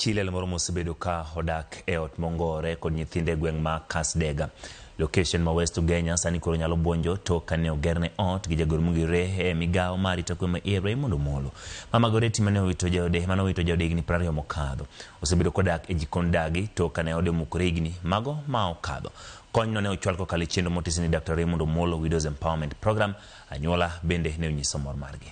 Chi liel moro mosebedo ka odak e ot mongowore kod nyithinde e gweng' ma Kasdega, location ma West Ugenya sani koro nyalo bwonjo tok kane ogerne ot gi jagoro mogirre e migawo mar arita kwe ma iye Raymond Omolo. Mama Goretti mane owito jaode mane owito jaode higni prariyo mokadho, osebedo kodak e jikond dagi tok kane ode omukore higni mago ma okadho. Kony no ne ochwal kokalo e chenro motis ni Daktar Raymond Omolo Widows Empowerment Program. Anyuola bende ne onyiso mor margi.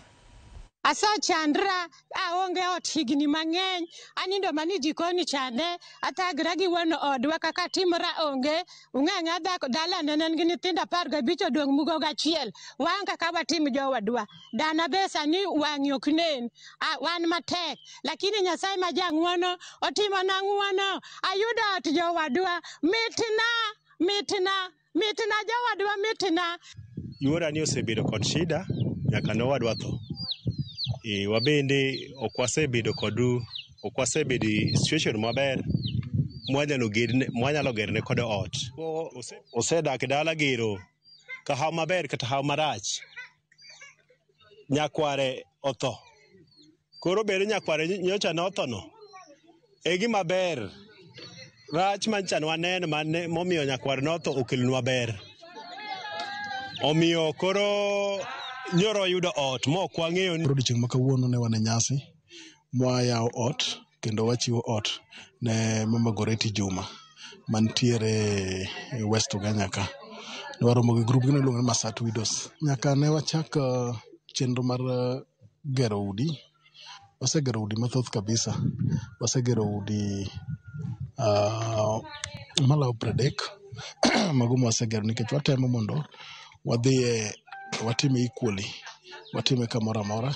Asechandra, aonge ot higni mang'eny, anindo mana e jikon chande, athagra gi wuon odwa kaka atimora onge, ung'eyo ng'a dhako dalane ne en gi nyithindo apar gabich odong' mugo gachiel, waonge kaka watim jowadwa. Dana be sani wang'e ok nen, a, wan matek, lakini Nyasaye ma jang'wono otimona ng'wono, ayudo ot jowadwa, mitna, mitna. Mitna jowadwa mitna. Yuora ni osebedo kod shida nyaka ne owadwa tho. E, wabende ok wasebedo kod ok wasebedo e situation maber mwanyalo gedne mwanyalo gerne kod ot. Ko- ose- Osedak e dala gero ka hawo maber kata hawo marach. nyakware otho. Koro bed ni nyakware nyocha ne othono, e gima ber. Rach ma nyocha ne waneno mane momiyo nyakware notho okelonwa ber. Omiyo koro nyoro oyudo ot mok wang'eyo ni Koro odiechieng' ma kawuono ne wan e nyasi mwayawo ot kendo wachiwo ot ne Mama Goreti Juma mantiere e West Ugenya ka. Ne waromo gi grup gino iluongo ni Masat Widows. Nyaka ne wachak eh, chenro mar eh, gero udi, wasegero udi mathoth kabisa. Wasegero udi ah, malawo pradek mago ma wasegero nikech watemo mondo wadhiye watime equally, watime kamoro amora.